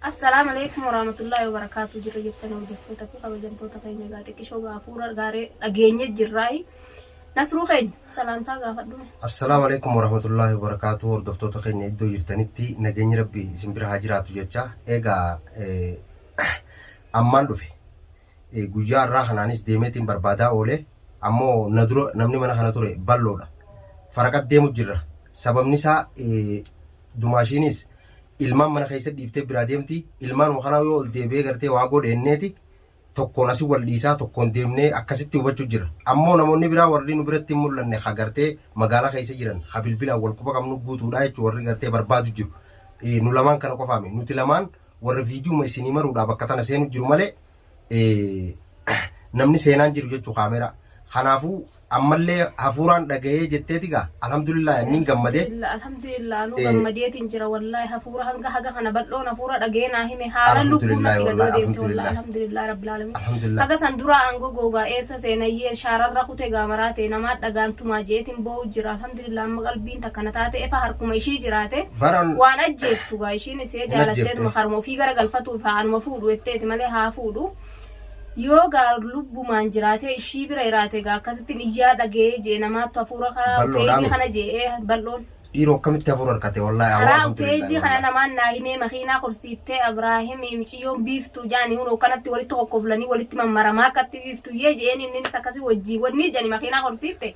Assalam Aleykum Woramatullahi Wobarakatu Jirra jirtani hojjattoota fi kabajamtoota keenya egaa xiqqishoo egaa hafuura gaaree dhageenye jirraayi Nasruu keenya salaamtaa gaafadhu mee. Assalaamu Aleykum Woramatullahi Wobarakatu Hordoftoota keenya iddoo jirtanitti nageenyi rabbi isin bira haa jiraatu jecha egaa ammaan dhufe Guyyaa har'aa kanaanis deemeetiin barbaadaa oole. Ammoo na dura namni mana kana ture balloodha. Faraqat deemu jirra. Sababni isaa dumaashiinis ilmaan mana keessa dhiiftee biraa deemti. Ilmaanuma kanaa yoo ol deebi'ee gartee waa godhe inneeti tokkoon asi wal dhiisaa tokkoon deemnee akkasitti hubachuu jirra. Ammoo namoonni biraa warri nu biratti hin mul'anne ha gartee magaalaa keessa jiran ha bilbilaan wal quba qabnu guutuudha jechuun warri gartee barbaadu jiru. Nu lamaan kana qofaami. Nuti lamaan warra viidiyuma isinii maruudhaa bakka tana seenu jiru malee namni seenaan jiru jechuu kaameeraa. Kanaafuu ammallee hafuuraan dhaga'ee jetteeti gaa alhamdulillah anniin gammadee. Alhamdulillah anuu gammadeetiin jira wallaahi hafuura hanga haga kana bal'oon hafuura dhaga'ee naa hime haala lubbuun natti gadoo deemte wallaahi alhamdulillah rabbil alamin. Haga san duraa aangoo googaa eessa seenayyee shaararra kute gaamaraa ta'e namaa dhagaan tumaa jeetiin boo'u jira alhamdulillah. Alhamdulillah amma qalbiin takka na taate efa harkuma ishii jiraate Bara waan ajjeeftu gaa ishiin isee Hin jaalatteetuma ajjeefte. haruma ofii gara galfatuuf haa anuma fuudhu jetteeti malee haa fuudhu yoo gaa lubbumaan jiraatee ishii bira jiraate gaa akkasittiin iyyaa dhagee jee namaattu hafuura karaa Bal'oodhaa uteeylii miti. kana jee ee bal'oon dhiiroo akkamitti hafuura harkate wallaahi awwaa karaa uteeylii alhamdulillah kana wallaahi. namaan naa himee makiinaa korsiiftee Abraahim miciyyoon biiftuu jaani hunoo kanatti walitti kokkoflanii walitti mammaramaa akkatti biiftuu yee jeen inninis akkasii wajjii wannii jani makiinaa korsiifte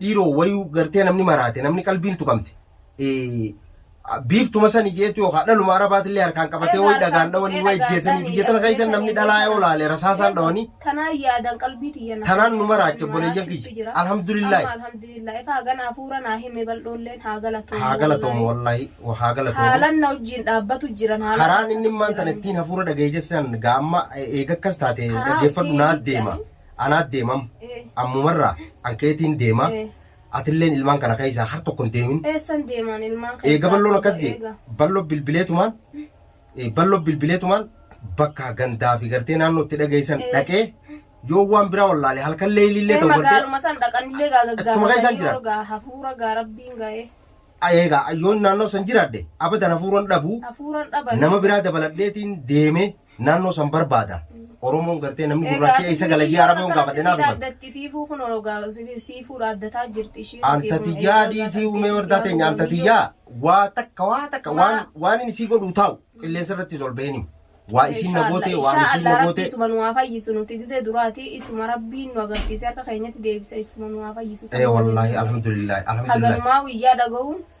dhiiroo wayuu gartee namni maraate namni qalbiin tuqamte eh, biiftuma sani jeetu yookaan dhaluma arabaatillee harkaan qabatee wayi dhagaan dhawanii wayi jeesanii biyya tana keessan namni dhalaa yoo laale rasaasaan dhawanii Tanaa yaadan qalbii tiyya naaf tanaan nu godhe, maraacha maraa boleeyyan chifti kiyya jira. Amma alhamdulillaahi alhamdulillah ifa hagan hafuura naa hime bal'oolleen haa galatoomuu haa galatoomu wallaahi. wallaahi haa galatoomu haalan na wajjin dhaabbatu jiran haalan karaan na inni maan tana jiran. ittiin hafuura dhaga'ee jessan gaamma eega akkas taate Karaa dhaggeeffadhu ittiin naa deema. jechaan anaat deemam ammumarraa an keetiin deema atilleen ilmaan kana keessaa har tokko hin deemin Eessan deemaan ilmaan keessaa. eega balloon akkas jee Eega. ballo bilbileetumaan eh, ballo bilbileetumaan bakka gandaa fi gartee naannoo itti dhageessan Eh. dhaqee yoo waan biraa wallaale halkan leeyilillee Ee, ta'u gartee magaaluma san dhaqanillee gaa Achuma keessaan gaggaafatanii jira. warra gaa hafuura gaa rabbiin ga'ee eega yoon naannoo san jiraadhe abadan hafuuran dhabu hafuuran dhaban nama biraa dabaladheetiin deemee naannoo san barbaada. Oromoon gartee namni gurraachi eessa gala jee araba yoon gaafadhe naaf himan. Addatti fiifuu kun orogaa siifuu addataa jirti ishiin. Anta tiyyaa dhiisii umee wardaa teenya anta tiyyaa waa takka waa takka waan Maa- waan inni sii godhu taa'u qilleensa irrattis ol baheen himu. Waa isiin na gootee waan isiin Inshallah na rabbi gootee. isuma nu haa fayyisu nuti gizee duraati isuma rabbiin nu agarsiise harka keenyatti deebisa isuma nu haa fayyisu. Ee wallaahi alhamdulillahi alhamdulillahi. Haganumaa guyyaa dhaga'uun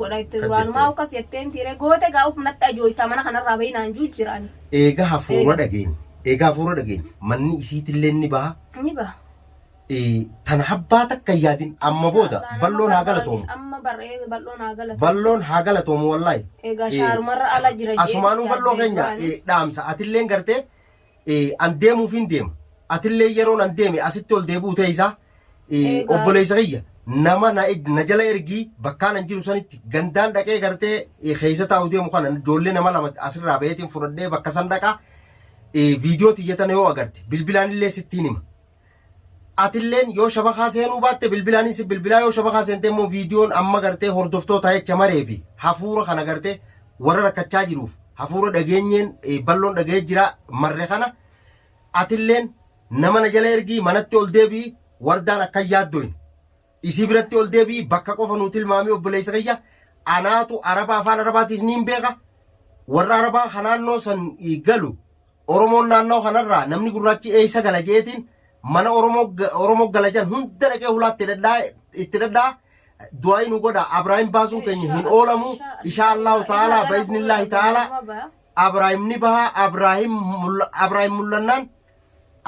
godha itti Akkas duraanumaa jettee. akkas jettee miti ree goote gaa of natti ajooytaa mana kanarraa bahii naan juu jiraani Eega hafuura Eega. dhageenye. Eega hafuura dhageenye. Manni isiitillee ni baha. ni baha. Eh, Tana habbaa takka hin yaadin amma booda Inshallah, nama balloon haa barbaade, galatoomu. Amma bar'ee balloon haa galatoomu. Balloon haa galatoomu wallaahi. Egaa Eh, shaarumarra ala jira jee Asumaanuu yaadde balloo keenya duraani. eh, dhaamsa atilleen gartee eh, an deemuuf hin deema. Atillee yeroon an deeme asitti ol deebi'u ta'e isaa Ee, Egaa- obboleessa kiyya nama na, na jala ergii bakkaan hin jiru sanitti gandaan dhaqee gartee ee, keessa taa'u deemu kana ijoollee nama lama asirraa baheetiin fudhadhee bakka san dhaqa ee, viidiyoo tiyyatana yoo agarte bilbilaan illee sittiin hima. Atilleen yoo shabakaa seenuu baatte bilbilaan si bilbilaa yoo shabakaa seentee immoo viidiyoon amma gartee hordoftoota jecha maree fi hafuura kana gartee warra rakkachaa jiruuf hafuura dhageenyeen ee, balloon dhaga'ee jira marre kana Atilleen nama na jala ergii manatti ol deebi'i Wardaan akka hin yaaddoyne. Isii biratti ol deebi'i bakka qofa nuu tilmaami obboleessa kiyya anaatu Araba afaan Arabaatiis niin beeka warra Arabaa ka naannoo san galu Oromoon naannawa kanarraa namni gurraachi eessa gala je'eetiin mana Oromoo Oromoo gala jan hunda dhaqee hulaatti dhadhaa itti dhadhaa du'aa'ii nu godha Abraahiim baasuun keenya hin oolamu ishaa Allahu ta'aalaa ba'iznillaahi ta'aalaa Abraahim ni baha Abraahim mulla- Abraahim mul'annaan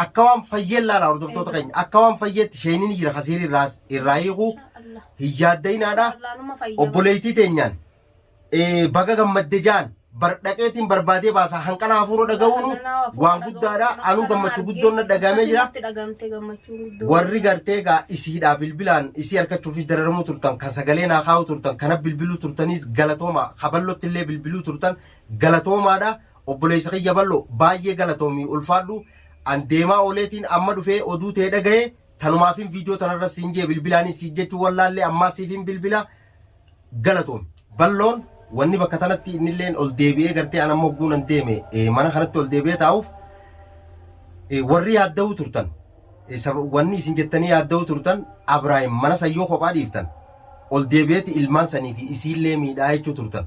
akka waan fayyeen laala hordoftoota keenya akka waan fayyeetti sheeyniin jira kasiir irraas irraa hiikuu hin yaaddayinaadha obboleettii teenyaan eh, baga gammadde jaan bar dhaqeetiin barbaadee baasaa hanqana hafuura dhaga'uunu waan guddaadha anuu gammachuu guddoon na dhagaamee jira warri gartee gaa isiidhaa bilbilaan isii argachuufis dararamuu turtan kan sagalee naa kaa'uu turtan kana bilbiluu turtaniis galatooma kaballotti illee bilbiluu turtan Galatoomaadha obboleessa kiyya ballo baay'ee galatoomi ulfaadhu an deemaa ooleetiin amma dhufee oduu tee dhagaye tanumaafin viidiyoo tanarra siin jee bilbilaanis siif jechuu wallaallee ammaa siifin bilbila galatoomi balloon wanni bakka tanatti innilleen ol deebi'ee gartee an amma hogguu nan deeme eh, mana kanatti ol deebi'ee taa'uuf eh, warri yaadda'uu turtan eh, sab- wanni isin jettanii yaadda'uu turtan Abraahim mana sayyoo kophaa dhiiftan ol deebi'eeti ilmaan sanii fi isiillee miidhaa jechuu turtan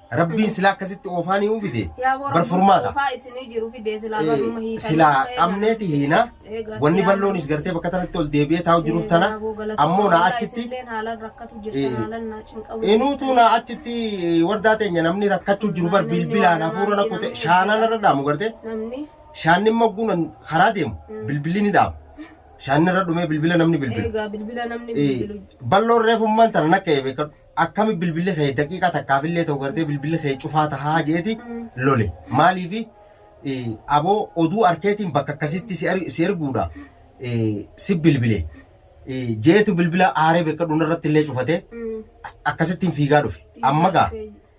Rabbiin silaa akkasitti oofaa ni uufite. Yaa warra Bar furmaata. Oofaa isinii jiru fidee silaa baruma Eh, hiikanii Silaa dhufee qabneeti hiina. Eegaa Wanni xiyyaan- balloonis gartee bakka tanatti ol deebi'ee taa'u jiruuf tana. Eegaa boo galata ammoo na Waaqaa achitti- isinilleen haalaan rakkatu Eh, jirtan haalaan naa cinqamu Inuutu na achitti eh, wardaa teenya namni rakkachuu jiru bar bilbilaan hafuura na kute shaanaan irra dhaamu gartee. namni Shaanni immoo guunan karaa deemu Mm. bilbilli ni dhaamu. Shaanni irra dhumee bilbila namni bilbilu. eegaa bilbila namni Eh, bilbilu Balloon reefummaan tana nakka eebee akkami bilbilli kee daqiiqaa takkaafillee ta'u gartee bilbilli kee cufaa tahaa jeeti lole maaliifi eh, aboo oduu arkeetiin bakka akkasitti si er- si erguudha eh, si bilbile eh, jeetu bilbila aaree beekadhuun irratti illee cufate akkasittiin fiigaa dhufe amma gaa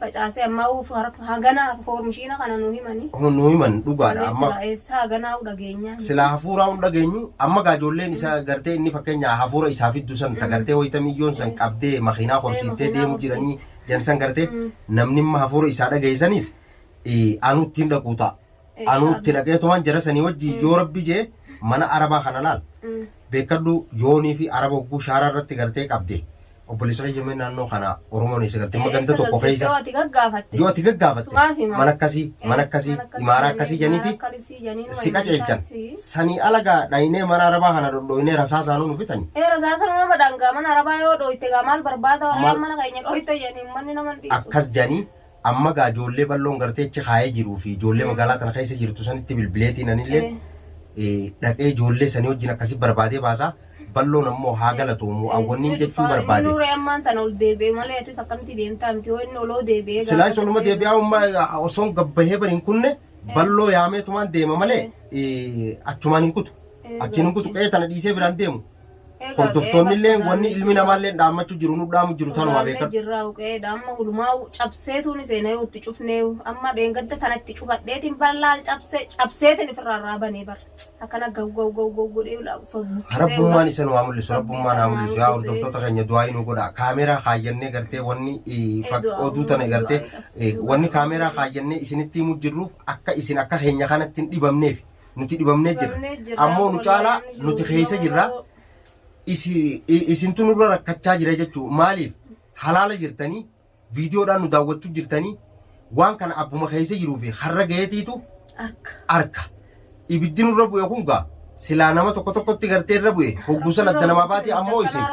facaasee ammaa'uu harka haganaa harka koormishiina kana nu himani. nu himan dhugaadha Malee amma silaa eessaa haganaa'uu dhageenyaa miti. silaa hafuuraa hin dhageenyu amma gaa ijoolleen isa gartee inni fakkeenya hafuura isaa fiddu san ta gartee wayita miyyoon san qabdee makiinaa horsiiftee makiinaa deemu jiranii horsiifte. jan san gartee Mm. namni amma hafuura isaa dhagahe sanis eh, anu ittiin dhaquu ta'a Anuu itti dhaqeetumaan jara sanii wajjin yoo rabbi jee mana arabaa kana laal. Beekadhu yoonii fi araba hogguu shaaraa irratti gartee qabde. Obboleessa kiyya mee naannoo kana Oromoon eessa galte? Amma ganda tokko keessa. Yoo ati gaggaafatte. Yoo ati gaggaafatte. Sumaaf hima. Mana akkasii, mana akkasii, imaara akkasii janiiti. Akkasii janiin Si qajeelchan. Sanii alagaa dhaynee mana arabaa kana dhodhooynee rasaa isaanuu nu fitani. Ee rasaasa nama dhangaa mana arabaa yoo dhooyte gaa maal barbaada warreen Maal- mana keenya dhooyte janiin manni nama hin dhiisu. Akkas janii Amma gaa ijoollee balloon gartee achi kaayee jiruu fi ijoollee magaalaa tana keessa jirtu sanitti bilbileetiin anillee dhaqee ijoollee sanii wajjin akkasii barbaadee baasa. Balloon ammoo haa galatoomu awwanniin jechuu barbaade. Nuuree ammaan tana ol deebi'e malee atis akkamitti deemtaa miti yoo inni oloo deebi'ee gaafa. Silaa isoluma deebi'aa umma osoon gabbahee bari hin kunne balloo yaameetumaan deema malee achumaan hin kutu. Achiin hin kutu qe'ee tana dhiisee biraan deemu. Hordoftoonni illee wanni ilmi namaa illee dhaammachuu jiru nu dhaamu jiru tanuma beekan. Jirraa uqeedha amma hulumaa cabseetuun seenee yoo itti cufnee amma dheengadda tana itti cufadheetiin bar laal cabsee cabseetiin ofirraa irraa banee bar akkana gaw gaw gaw gaw godhee ulaa osoo buqqisee Rabbummaan isan waa mul'isu rabbummaan haa mul'isu yaa hordoftoota keenya du'aa inuu godha kaameeraa kaayyannee gartee wanni oduu tana gartee wanni kaameeraa kaayyannee isinitti himuu jirruuf akka isin akka keenya kanatti hin dhibamneef. nuti dhibamnee jirra Dhibamnee jirra, ammoo nu caalaa wallahi, nu nuti keessa jirra jirra. isi- i- isintu nurra rakkachaa jira jechuu maaliif halaala jirtanii viidiyoodhaan nu daawwachuu jirtanii waan kana abbuma keessa jiruu fi har'a gaheetiitu Akka. arka ibiddi nurra bu'e kun gaa silaa nama tokko tokkotti gartee irra bu'e hogguusan adda namaa baate ammoo isin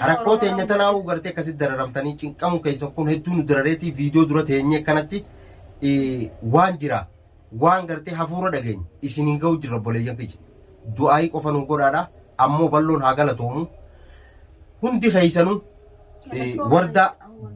rakkoo teenya tanaa'uu gartee akkasitti dararamtanii cinqamuu keessan kun hedduu nu darareetii viidiyoo dura teenyee kanatti eh, waan jira waan gartee hafuura dhageenye isiniin ga'u jirra obboleeyyan kiyya. Du'aayii qofa nuu godhaadha. Ammoo balloon haa galatoomu. Hundi keessanuu eh, wardaa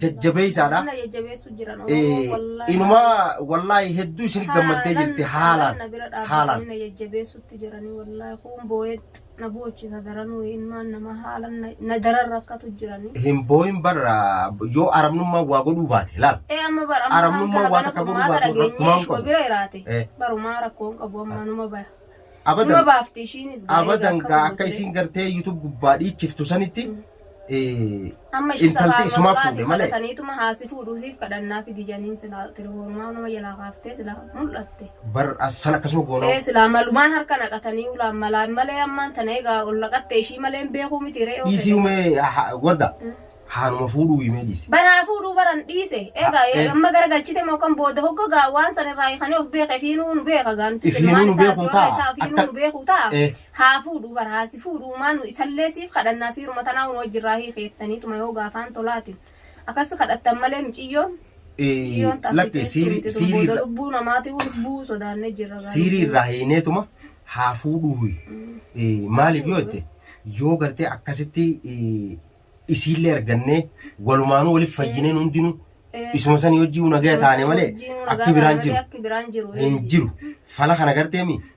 jajjabeessaadha. Humna jajjabeessu jiran Eh, Oromoo wallaahi. Inumaa wallaahi hedduu isin gammaddee jirti haalaan. na bira haalaan. dhaabbatanii na jajjabeessutti jiranii wallaahi kuun boo'eetti. na boochisa daranuu ilmaan namaa haala na- na daran rakkatu jirani. Hin booyin bar ah, yoo arabnummaan waa godhuu baate laal. Ee amma bar amma Arabnummaa kan kana waan kana akka godhuu furmaata baatu dhageenyee rakkumaa hin ishuma qabu. bira jiraate Eh. barumaa rakkoo hin qabu amma numa baya. Numa Abadan baafti ishiinis gaa eega abadan akka gaa akka godhee. isiin gartee YouTube gubbaa dhiichiftu sanitti Amma ishii intalti sabaabuma isumaa biraatiin fuudhe malee. kadhataniituma haasi fuudhuu siif kadhannaa fidi janiin silaa tirifoonumaa nama jalaa kaaftee silaa mul'atte. Bar as san akkasuma goonoo. Ee silaa malumaan harka naqatanii ulaan malaan malee ammaan tana egaa ol naqatte ishii malee hin beekuu miti re'ee Dhiisii ofii. humee ha- ha- warda. Mm. Haanuma fuudhuu himee dhiisi. Baraa fuudhuu baran dhiise egaa Ah, eh. amma garagalchite moo kan booda hogga gaa waan san irraa hiikanii of beeke fiinuu nu beeka gaa nuti Ifiinuu ilmaan nu isaa beekuu du'aa ta'a. isaa fiinuu Akka- nu beekuu ta'a. Eh. Haa fuudhuu bar haa si fuudhuu umaa nu isallee siif kadhannaa siiruma tanaa unu wajji irraa hiikeettaniituma yoo gaafaan tolaatin akassi kadhattan malee miciyyoon miciyyoon ta asii teessu miti tun booda lubbuu namaati lubbuu sodaanne jirra gaa siirii lubbuu irraa hiineetuma haa fuudhuu huyi maaliif yoo jette yoo gartee akkasitti isiillee argannee walumaanuu waliif fayyineen hundinuu isuma sanii hojii nagaya taane malee akki biraan jiru akki biraan jiru hin jiru fala kana garteemi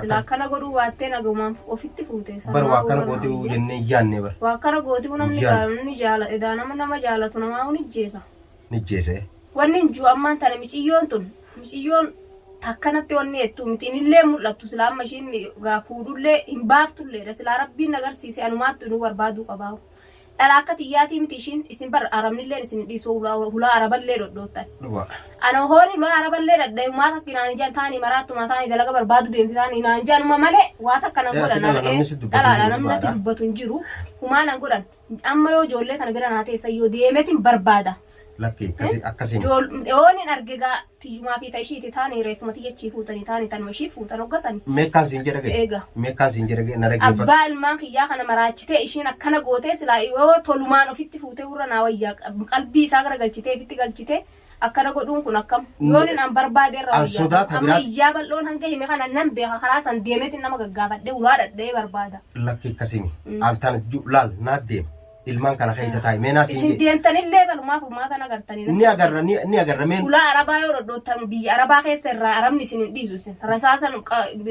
Silaa akkana godhuu baattee nagumaan ofitti fuute. Bar waa akkana gooti uu jennee hin yaanne bar. Waa akkana gooti uu namni gaaru ni jaala edaa nama nama jaalatu namaa uu ni jeesa. Ni jeese. Wanni hin jiru ammaan tana miciyyoon tun miciyyoon takkanatti wanni ettuu miti inillee hin mul'attu silaa amma ishiin gaa fuudhullee hin baaftulleedha silaa rabbiin na garsiise anumaattu inuu barbaaduu qabaa. Dhala akka tiyyaatii miti ishiin isin bar arabnilleen isin dhiisuu hulaa hulaa araballee dhodhoottan. Dhuga. Ana hooni hulaa araballee dhadhee umaa takki naan ijaan taani maraattumaa taani dalaga barbaadu deemti taani naan ijaan uma malee waa takka nan Ee, godhan ati dhala argee namni si dubbatu dhalaadha jiru namni natti dhugaadha. dubbatu hin jiru humaa nan godhan amma yoo ijoollee tana bira naa teessan yoo deemetin barbaada Lakki akkasi akkasi. Jool oonin arge gaa tiyyumaa fi ta'e ishiiti taani reeffuma tiyyachii fuutanii taani tanuma ishii fuutan hoggasani. Meekkaan siin jedha ga'e. Eega. Meekkaan siin jedha ga'e na dhaggeeffadhu. Abbaa ilmaan kiyyaa kana maraachitee ishiin akkana gootee silaa yoo tolumaan ofitti fuutee warra naa wayyaa qalbii isaa gara galchitee ofitti galchitee akkana godhuun kun akkam yoonin an barbaade irra An wayyaa sodaata amma biraatti- iyyaa bal'oon hanga hime kana nan beeka karaa san deemeetiin nama gaggaafadhee ulaa dhadha'ee barbaada. Lakki akkasimi. Mm. An tana ju- laal naa deema. ilmaan kana keessa taa'i mee naas isin deemtanillee balumaa furmaata nagartanii ni agarra ni ni agarra mee ulaa arabaa yoo dhodhoottan biyya arabaa keessa irraa arabni isin hin dhiisu isin rasaasan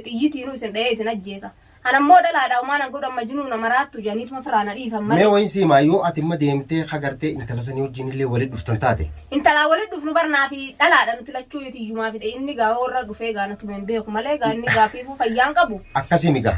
xiyyitiinuu isin dha'ee isin ajjeesa kan ammoo dhalaadha umaa nan godhan majinuu na maraattu jedhaniituma firaana dhiisan mee malee wayin siimaa yoo ati imma deemtee hagartee intala sanii wajjin illee walitti dhuftan taate intalaa walitti dhufnu barnaa fi dhalaadha nuti lachuu yoo tiyyumaa fi inni gaa warra dhufee gaa natuma hin beeku malee gaa inni gaafiifuu fayyaan qabu akkasii migaa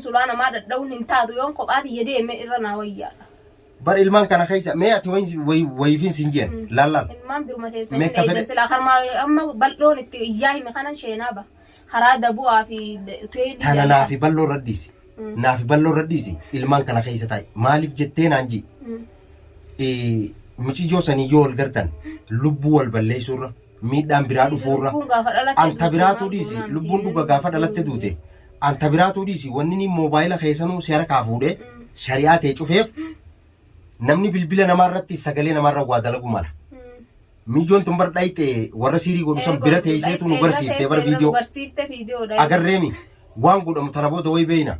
sulaa namaa dhadha'uun hin taatu yoon kophaa tiyya deeme irra naa wayyaadha. Bar ilmaan kana keessa mee ati wayin- wayi- wayiifin siin jeen Mm. laal laal. Ilmaan biruma teessan Meeqa hin eedan fedhe- silaa karmaa amma bal'oon itti iyyaa hime kanan sheenaa ba. Karaa dabu'aa fi de- teelii Tana jalaa. naafi balloo irra dhiisi. Mm. Naafi balloo irra dhiisi ilmaan kana keessa taa'i. Maaliif jettee naan jii? Mm. Eh, Miciyyoo sanii yoo wal gartan lubbuu wal balleessuurra miidhaan biraa dhufuurra anta biraatuu dhiisi lubbuun dhuga gaafa dhalatte duute anta biraatuu dhiisi wanni ni moobaayila keessanuu si harkaa fuudhee shari'aa ta'e cufeef namni bilbila namaa irratti sagalee namaa irra waa dalagu mala. Miijoon tun bar dhayxe warra siirii godhu san bira teesseetu nu garsiifte bar viidiyoo garsiifte viidiyoo agarreemi waan godhamu tana booda way beeyna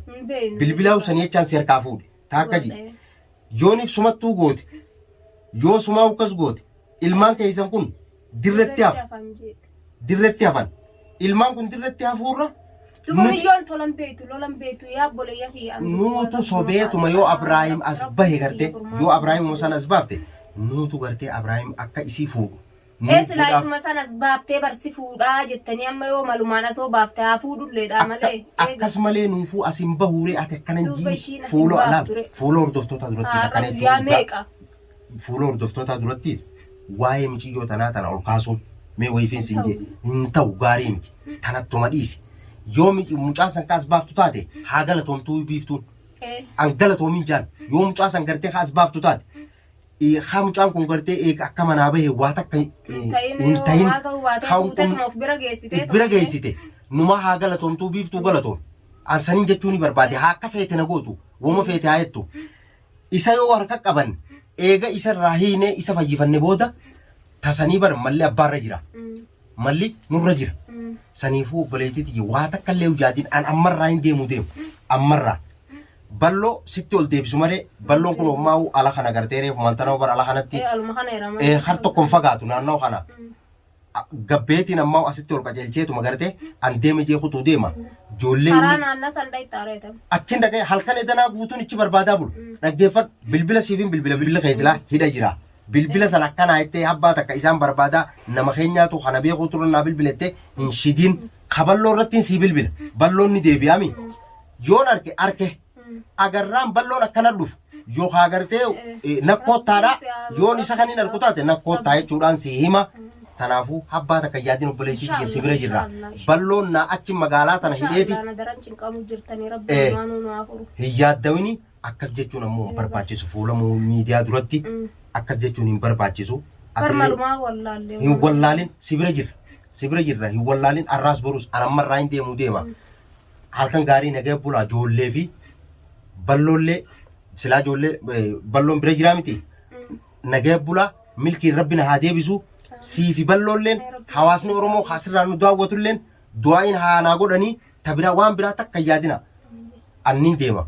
bilbilaa usanii jechaan si harkaa fuudhe. taakka ji Godhee. yooniif sumattuu goote yoo sumaa ukkas goote ilmaan keessan kun dirretti hafa hafan jee. dirretti hafan ilmaan kun dirretti hafuurra Tuma nuti biyyoon tolan beektu lolan beektu yaa boleeyya kiyya. ani duwwaa nuutu irratti sobeetuma yoo maqaa Abraahim Rabbii as kiyya bahe garte furmaata yoo Abraahim kiyya. san as baafte nuutu gartee Abraahim akka isii fuudhu Ee Nuuf silaa godhaaf. isuma sanas baaftee bar si fuudhaa jettanii amma yoo malumaan asoo baafte haa fuudhulleedha Akka- malee eega. akkas malee nuufuu as hin bahuuree ati akkana hin Duuba jiin ishiin as hin fuula baaftu alaal re. fuula hordoftootaa durattis Har'a akkana guyyaa jechuun meeqa? fuula hordoftootaa durattis waa'ee miciyyoo tanaa tana ol kaasuun mee wayifiin siin jee hin ta'u gaarii miti tanattuma dhiisi yoo mi- mucaan san kaas baaftu taate haa galatoomtuu biiftuun Ee. an galatoomin jaan yoo mucaa san gartee kaas baaftu taate eh, haa mucaan kun gartee eega akka manaa bahe waa takka eh, Hin ta'in hin yoo ta'in waa ta'uu baatee haa fuutee kun- tuma of bira geessitee bira tuma geessite numaa haa galatoomtuu biiftuu galatoom an saniin jechuu ni barbaade haa akka feete na gootu woma feete haa jettu isa yoo harka qaban eega isa irraa hiinee isa fayyifanne booda tasanii bar malli abbaarra jira Mm, malli nurra jira mm, saniifuu obboleettii tiyya waa takka illee hojjaatiin an ammarraa hin deemu deemu ammarraa balloo sitti ol deebisu malee balloon kun hommaa'u ala kana gartee reefu mantanoo bara ala kanatti Ee, aluma kana irama. eh, har tokko hin fagaatu naannoo kana Mm. A- gabbeetiin ammaa asitti ol qajeelcheetuma gartee an deeme jee kutuu deema ijoollee Karaa inni naannaa san dhayitti areetan. achiin dhaga'e halkan edanaa guutuun ichi barbaadaa bulu Mm. dhaggeeffadhu bilbila siifin bilbila bilbila keessilaa hidha jira bilbila san akkanaa jettee habbaa takka isaan barbaada nama keenyaatu kana beekuu turan naa bilbila jettee hin shidiin kaballoo irrattiin sii bilbila balloon ni deebi'aami yoon arke arke agarraan balloon akkana dhufu yookaan agartee eh, nakkoottaadha yoon isa kan hin arku taate nakkoottaa jechuudhaan sii hima kanaafuu habbaa takka yaadin obboleettii kiyya si bira jirra balloon naa achi magaalaa tana hidheeti Daran cinqamuu jirtanii Eh. rabbi waan nu haafuru. hin yaaddawini Akkas jechuun ammoo hin barbaachisu fuula mu- miidiyaa duratti Mm. akkas jechuun hin barbaachisu. Ati illee Barmalumaa wallaallee. hin wallaalin si bira jirra si bira jirra hin wallaalin arraas boruus anamma irraa hin deemuu deema Mm. halkan gaarii nagaya bulaa joollee fi balloollee silaa joollee eh, balloon bira jiraa miti Mm. nagaya bulaa milkiin rabbi na haa deebisu sii fi balloolleen hawaasni oromoo kaasirraa nu daawwatulleen du'aa'iin haa naa godhanii ta biraa waan biraa takka hin yaadina anniin deema